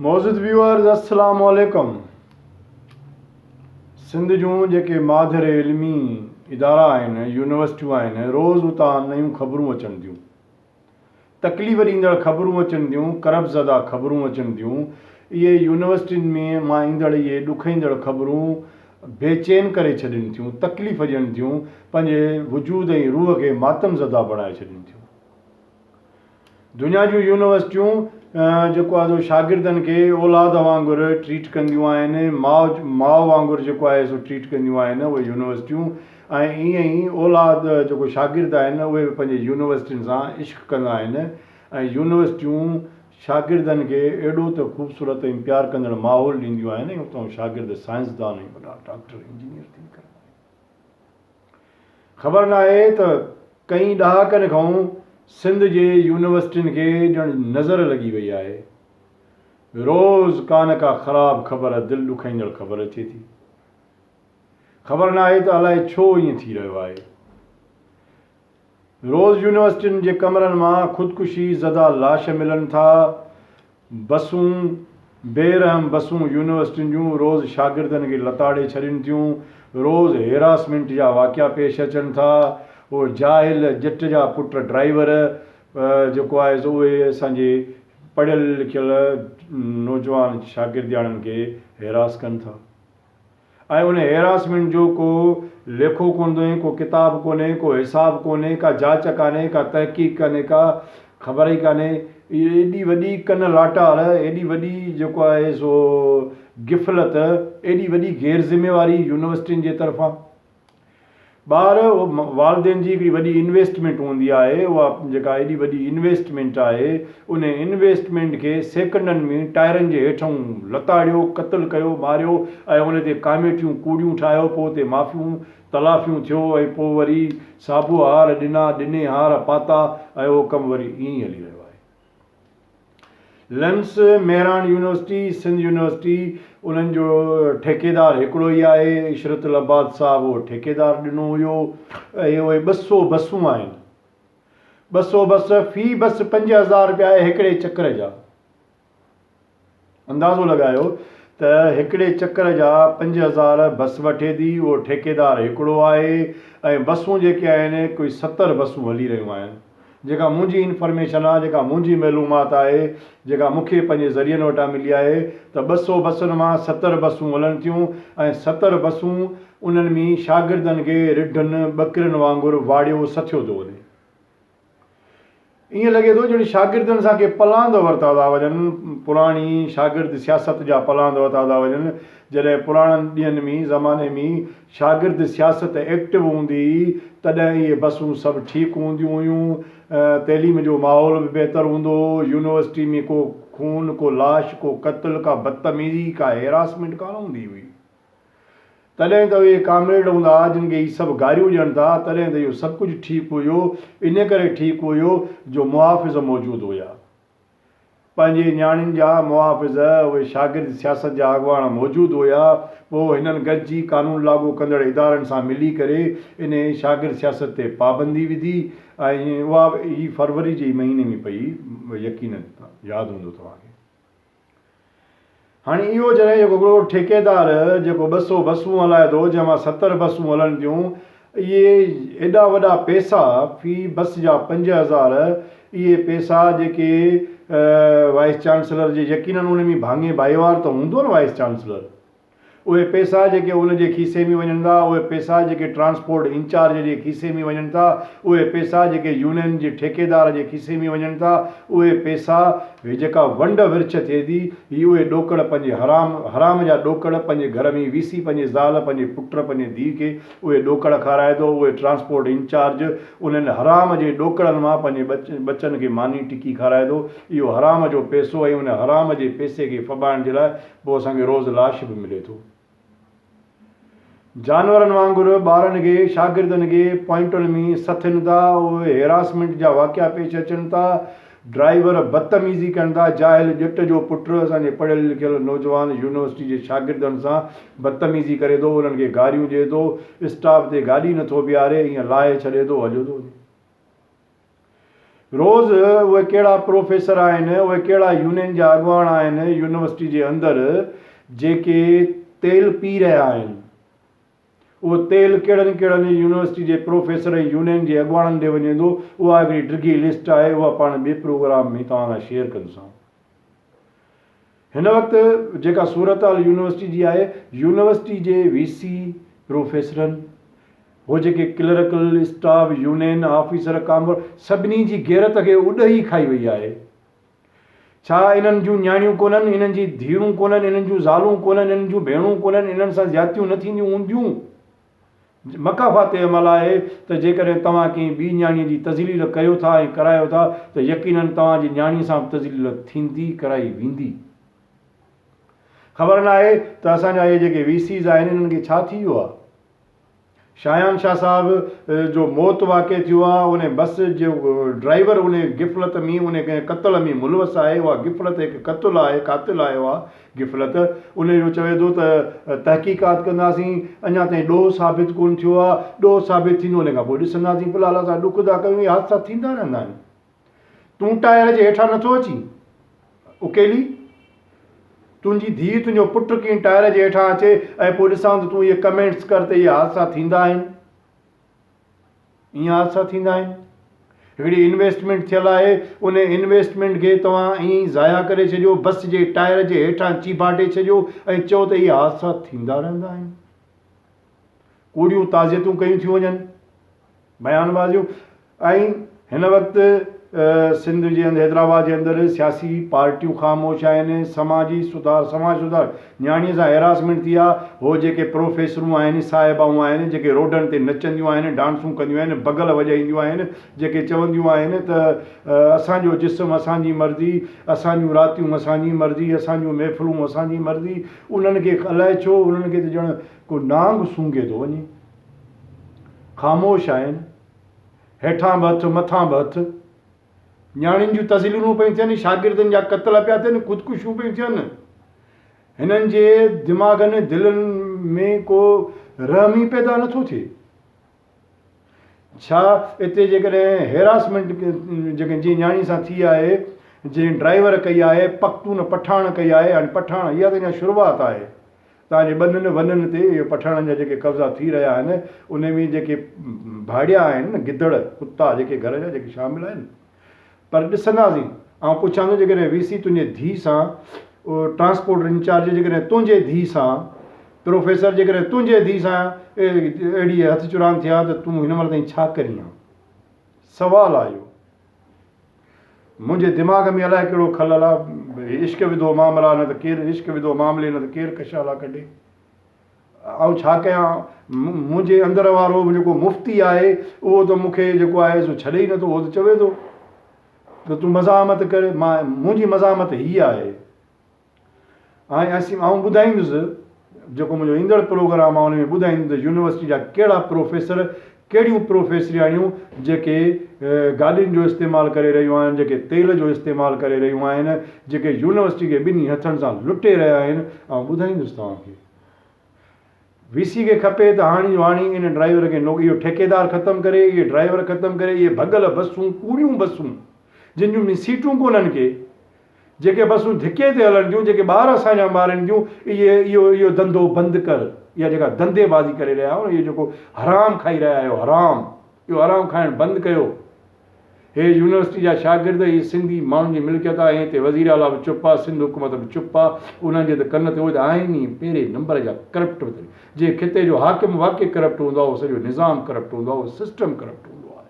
معزز ويوئرز السلام عليڪم سنڌ جون جيڪي ماڌر علمي ادارا آهن يونيورسٽيون آهن روز اتان نيون خبرون اچن ٿيون تڪليف ڏيندڙ خبرون اچن ٿيون ڪرب زده خبرون اچن ٿيون اهي يونيورسٽين ۾ مان ايندڙ اهي ڏکئيندڙ خبرون بي چين ڪري ڇڏين ٿيون تڪليف ڏين ٿيون پنهنجي وجود ۽ روح کي ماتم زده بڻائي ڇڏين ٿيون دنيا جون يونيورسٽيون جيڪو آهي سو شاگردن کي اولاد وانگر ٽريٽ ڪنديون آهن ماء ماء وانگر جيڪو آهي سو ٽريٽ ڪنديون آهن اهي يونيورسٽيون ۽ ائين ئي اولاد جيڪو شاگرد آهن اهي به پنهنجي يونيورسٽين سان عشق ڪندا آهن ۽ يونيورسٽيون شاگردن کي اهڙو ته خوبصورت ۽ پيار ڪندڙ ماحول ڏينديون آهن ۽ اتان شاگرد سائنسدان ۽ وڏا ڊاڪٽر انجنيئر ٿي نڪرندا آهن. خبر ناهي ته ڪئين ڏهاڪن کئون سنڌ جي يونيورسٽين کي ڄڻ نظر لڳي وئي آهي. روز ڪا نه ڪا خراب خبر دل ڏکائيندڙ خبر اچي ٿي. خبر ناهي ته الائي ڇو ائين ٿي رهيو آهي. روز يونيورسٽين جي ڪمرن مان خودڪشي زده لاش ملن ٿا، بسون، بي رحم بسون يونيورسٽين جون روز شاگردن کي لتاڙي ڇڏين ٿيون، روز هيراسمينٽ جا واقعا پيش اچن ٿا، اهي جاهل ڄٽ جا پٽ ڊرائيور جيڪو آهي سو اهي اسان جي پڙهيل لکيل نوجوان شاگردياڻين کي هيراس ڪن ٿا. ۽ ان هيراسمينٽ جو ڪو ليکو ڪونه، ڪو ڪتاب ڪونهي، ڪو حساب ڪونهي، ڪا جاچ ڪانهي، ڪا تحقيق ڪانهي، ڪا خبر ئي ڪانهي. ايڏي وڏي ڪن لاٽار، ايڏي وڏي جيڪو آهي سو غفلت، ايڏي وڏي غير ذميواري يونيورسٽين جي طرفان. ٻار والدين جي هڪڙي وڏي انويسٽمينٽ هوندي آهي اها جيڪا ايڏي وڏي انويسٽمينٽ آهي ان انويسٽمينٽ کي سيڪنڊن ۾ ٽائرن جي هيٺئون لتاڙيو قتل ڪيو ماريو ۽ ان تي ڪاميٽيون ڪوڙيون ٺاهيو پوء اتي معافيون تلافيون ٿيو ۽ پوء وري سابوهار ڏنا ڏني هار پاتا ۽ اهو ڪم وري ائين ئي هلي رهيو آهي. لنس، ميراڻ يونيورسٽي، سنڌ يونيورسٽي، انهن جو ٺيڪيدار هڪڙو ئي آهي، عشرت العباد صاحب اهو ٺيڪيدار ڏنو هيو ۽ اهي ٻه سؤ بسون آهن، ٻه سؤ بس، في بس پنج هزار رپيا هڪڙي چڪر جا. اندازو لڳايو ته هڪڙي چڪر جا پنج هزار بس وٺي ٿي، اهو ٺيڪيدار هڪڙو آهي ۽ بسون جيڪي آهن ڪوئي ستر بسون هلي رهيون آهن. جيڪا منهنجي انفرميشن آ، جيڪا منهنجي معلومات آهي، جيڪا مون کي پنهنجي ذريعن وٽان ملي آهي ته ٻه سؤ بسن مان ستر بسون هلن ٿيون ۽ ستر بسون انهن ۾ شاگردن کي رڍن ٻڪرين وانگر واڙيو سٿيو ٿو وڃي. ائين لڳي ٿو ڄڻ شاگردن سان ڪي پلاند ورتا ٿا وڃن، پراڻي شاگرد سياست جا پلاند ورتا ٿا وڃن، جڏهن پراڻن ڏينهن ۾ زماني ۾ شاگرد سياست ايڪٽو هوندي هئي تڏهن اهي بسون سڀ ٺيڪ هونديون هيون، تعليم جو ماحول به بهتر هوندو هو، يونيورسٽي ۾ ڪو خون، ڪو لاش، ڪو قتل، ڪا بدتميزي، ڪا هيراسمينٽ ڪانه هوندي هئي. تڏهن ته اهي ڪامريڊ هوندا جن کي هي سڀ گاريون ڏين ٿا، تڏهن ته اهو سڀ ڪجهه ٺيڪ هيو، انهيء ڪري ٺيڪ هيو جو محافظ موجود هيا. پنهنجي نياڻين جا محافظ، اهي شاگرد سياست جا اڳواڻ موجود هيا، پوء هنن گڏجي قانون لاڳو ڪندڙ ادارن سان ملي ڪري انهيء شاگرد سياست تي پابندي وڌي ۽ اها به هي فروري جي ئي مهيني ۾ پئي، يقينن ياد هوندو توهان کي. هاڻي اهو جڏهن جيڪو هڪڙو ٺيڪيدار جيڪو ٻه سؤ بسون هلائي ٿو جنهن مان ستر بسون هلن ٿيون اهي ايڏا وڏا پئسا في بس جا پنج هزار اهي پئسا جيڪي وائيس چانسلر جي يقينن ان ۾ ڀاڱي ڀائيوار ته هوندو نه وائيس چانسلر اهي پئسا جيڪي ان جي کيسي ۾ وڃن ٿا، اهي پئسا جيڪي ٽرانسپورٽ انچارج جي کيسي ۾ وڃن ٿا، اهي پئسا جيڪي يونين جي ٺيڪيدار جي کيسي ۾ وڃن ٿا، اهي پئسا، هي جيڪا ونڊ ورڇ ٿئي ٿي، هي اهي ڏوڪڙ پنهنجي حرام، حرام جا ڏوڪڙ پنهنجي گهر ۾ وي سي پنهنجي زال، پنهنجي پٽ، پنهنجي ڌيء کي اهي ڏوڪڙ کارائي ٿو، اهي ٽرانسپورٽ انچارج انهن حرام جي ڏوڪڙن مان پنهنجي ٻچن کي ماني ٽڪي کارائي ٿو، اهو حرام جو پئسو ۽ ان حرام جي پئسي کي ڦٻائڻ جي لاء پوء اسان کي روز لاش به ملي ٿو. جانورن وانگر ٻارن کي شاگردن کي پوائنٽن ۾ سٿين ٿا اهي هيراسمينٽ جا واقعا پيش اچن ٿا ڊرائيور بدتميزي ڪن ٿا جاهل ڄٽ جو پٽ اسان جي پڙهيل لکيل نوجوان يونيورسٽي جي شاگردن سان بدتميزي ڪري ٿو انهن کي گاريون ڏئي ٿو اسٽاپ تي گاڏي نٿو بيهاري ائين لاهي ڇڏي ٿو هليو ٿو وڃي. روز اهي ڪهڙا پروفيسر آهن، اهي ڪهڙا يونين جا اڳواڻ آهن، يونيورسٽي جي اندر جيڪي تيل پي رهيا آهن، اهو تيل ڪهڙن ڪهڙن يونيورسٽي جي پروفيسر ۽ يونين جي اڳواڻن ڏي وڃي ٿو، اها هڪڙي ڊگهي لسٽ آهي، اها پاڻ ٻئي پروگرام ۾ توهان لاء شيئر ڪندسان. هن وقت جيڪا صورتحال يونيورسٽي جي آهي، يونيورسٽي جي وي سي، پروفيسرن، هو جيڪي ڪلرڪل، اسٽاف، يونين، آفيسر، ڪامورا، سڀني جي غيرت کي اڏهي کائي وئي آهي. ڇا انهن جون نياڻيون ڪونهن، انهن جي ڌيئرون ڪونهن، انهن جون زالون ڪونهن، انهن جون ڀيڻون ڪونهن، انهن سان زيادتيون نه ٿينديون هونديون؟ مڪافات تي عمل آهي ته جيڪڏهن توهان ڪنهن ٻي نياڻيء جي تذليل ڪريو ٿا ۽ ڪرايو ٿا ته يقيناً توهان جي نياڻيء سان به تذليل ٿيندي ڪرائي ويندي. خبر ناهي ته اسان جا اهي جيڪي وي سيز آهن انهن کي ڇا ٿي ويو آهي. شاهيان شاهه صاحب جو موت واقع ٿيو آهي انهي بس جو ڊرائيور انهي غفلت ۾ انهي قتل ۾ ملوث آهي اها غفلت هڪ قتل آهي قاتل آهي اها غفلت، انهيء جو چوي ٿو ته تحقيقات ڪنداسين، اڃا تائين ڏوهه ثابت ڪونه ٿيو آهي، ڏوهه ثابت ٿيندو انهيء کان پوء ڏسنداسين، في الحال اسان ڏک ٿا ڪيون، اهي حادثا ٿيندا رهندا آهن. تون ٽائر جي هيٺان نٿو اچين؟ اڪيلي؟ تنهنجي ڌيء، تنهنجو پٽ ڪين ٽائر جي هيٺان اچي ۽ پوء ڏسان ته تون اهي ڪمينٽس ڪر ته اهي حادثا ٿيندا آهن. ائين حادثا ٿيندا آهن. هڪڙي انويسٽمينٽ ٿيل آهي، ان انويسٽمينٽ کي توهان ائين ئي ضايع ڪري ڇڏيو، بس جي ٽائر جي هيٺان چيڀاٽي ڇڏيو ۽ چئو ته اهي حادثا ٿيندا رهندا آهن. ڪوڙيون تعزيتون ڪيون ٿيون وڃن، بيان بازيون ۽ هن وقت سنڌ جي حيدرآباد جي اندر سياسي پارٽيون خاموش آهن، سماجي سڌار سماج سڌار نياڻيء سان هيراسمينٽ ٿي آهي، هو جيڪي پروفيسرون آهن، صاحبائون آهن، جيڪي روڊن تي نچنديون آهن، ڊانسون ڪنديون آهن، بگل وڄائينديون آهن، جيڪي چونديون آهن ته اسان جو جسم اسان جي مرضي، اسان جون راتيون اسان جي مرضي، اسان جون محفلون اسان جي مرضي، انهن کي الائي ڇو انهن کي ته ڄڻ ڪو نانگ سونگهي ٿو وڃي، خاموش آهن، هيٺان به هٿ مٿان به هٿ. نياڻين جون تذليلون پيون ٿين، شاگردن جا قتل پيا ٿين، خودڪشيون پيون ٿين. هنن جي دماغن ۽ دلن ۾ ڪو رحم ئي پيدا نه ٿو ٿئي. ڇا اتي جيڪڏهن هيراسمينٽ جيڪا جنهن نياڻي سان ٿي آهي، جنهن ڊرائيور ڪئي آهي، پختون پٺاڻ ڪئي آهي، هاڻي پٺاڻ اها ته اڃا شروعات آهي، تان جي ٻنن ونن تي اهي پٺاڻن جا جيڪي قبضا ٿي رهيا آهن، انهي ۾ جيڪي ڀاڙيا آهن نه گدڙ، ڪتا، جيڪي گهر جا جيڪي شامل آهن. پر ڏسنداسين. آئون پڇان ٿو جيڪڏهن وي سي تنهنجي ڌيء سان ٽرانسپورٽ انچارج جيڪڏهن تنهنجي ڌيء سان پروفيسر جيڪڏهن تنهنجي ڌيء سان اهڙي هٿ چراند ٿيا ته تون هن مهل تائين ڇا ڪرين ها؟ سوال آهي اهو. منهنجي دماغ ۾ الائي ڪهڙو خلل آ. هي عشق وڌو معاملا نه ته ڪير عشق وڌو معاملي نه ته ڪير ڪشالا ڪڍي. آئون ڇا ڪيان؟ منهنجي اندر وارو جيڪو مفتي آهي اهو ته مون کي جيڪو آهي سو ڇڏي ئي نٿو. اهو ته چوي ٿو ته تون مزاحمت ڪر. مان منهنجي مزاحمت هي آهي. آهي اسين آئون ٻڌائيندس جيڪو منهنجو ايندڙ پروگرام آهي ان ۾ ٻڌائيندس ته يونيورسٽي جا ڪهڙا پروفيسر ڪهڙيون پروفيسرياڻيون جيڪي گاڏين جو استعمال ڪري رهيون آهن جيڪي تيل جو استعمال ڪري رهيون آهن جيڪي يونيورسٽي کي ٻنهي هٿن سان لٽي رهيا آهن آئون ٻڌائيندس توهان کي وي سي کي کپي ته هاڻي جو هاڻي ان ڊرائيور کي نوڪري اهو ٺيڪيدار ختم ڪري اهي ڊرائيور ختم ڪري اهي ڀڳل بسون ڪوڙيون بسون جن جون سيٽون ڪونهن ڪي جيڪي بسون ڌڪي تي هلن ٿيون، جيڪي ٻار اسان جا مارين ٿيون، اهي اهو اهو ڌنڌو بند ڪر. اها جيڪا ڌنڌي بازي ڪري رهيا آهيو نه، اهو جيڪو حرام کائي رهيا آهيو حرام، اهو حرام کائڻ بند ڪيو. هي يونيورسٽي جا شاگرد، هي سنڌي ماڻهن جي ملڪيت آهي، هتي وزير اعليٰ به چپ آهي، سنڌ حڪومت به چپ آهي، انهن جي ته ڪن تي اهي ته آهن ئي پهرين نمبر جا ڪرپٽ به تن. جنهن خطي جو حاڪم واقعي ڪرپٽ هوندو آهي، اهو سڄو نظام ڪرپٽ هوندو آهي، اهو سسٽم ڪرپٽ هوندو آهي.